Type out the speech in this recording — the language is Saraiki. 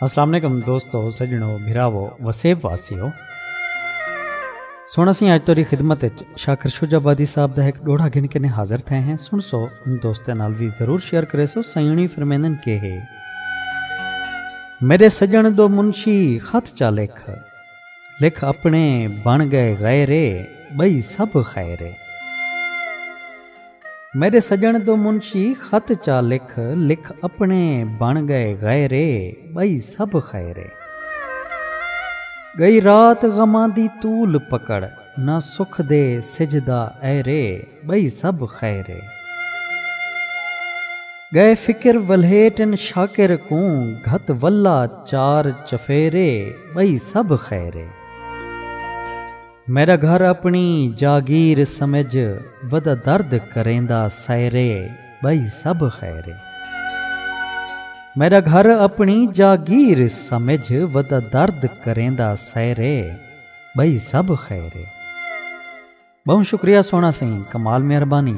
السلام علیکم دوستو سجنو بھراو وسیب واسیو سن اسی اج توری خدمت وچ شاکر شجاع آبادی صاحب دا ایک ڈوڑا گھن کے نے حاضر تھے ہیں سن سو ان دوستاں نال وی ضرور شیئر کرے سو سیونی فرمیندن کے ہے میرے سجن دو منشی خط چا لکھ لکھ اپنے بن گئے غیرے بئی سب خیرے میݙے سڄݨ توں منشی خط چا لکھ لکھ اپݨے بݨ ڳئے غیرے ٻئی سبھ خیرے ڳئی رات غماں دی طول پکڑ نہ سکھ دے سجھ دا ایرے ٻئی سبھ خیرے ڳئے فکر ولھیٹن شاکر کوں گھت ولا چار چفیرے ٻئی سبھ خیرے۔ میݙا گھر اپݨی جاگیر سمجھ ودا درد کریندا سیرے ٻئی سب خیرے۔ میݙا گھر اپݨی جاگیر سمجھ ودا درد کریندا سیرے ٻئی سب خیرے۔ ٻہوں شکریہ سوہݨا سئیں کمال مہربانی۔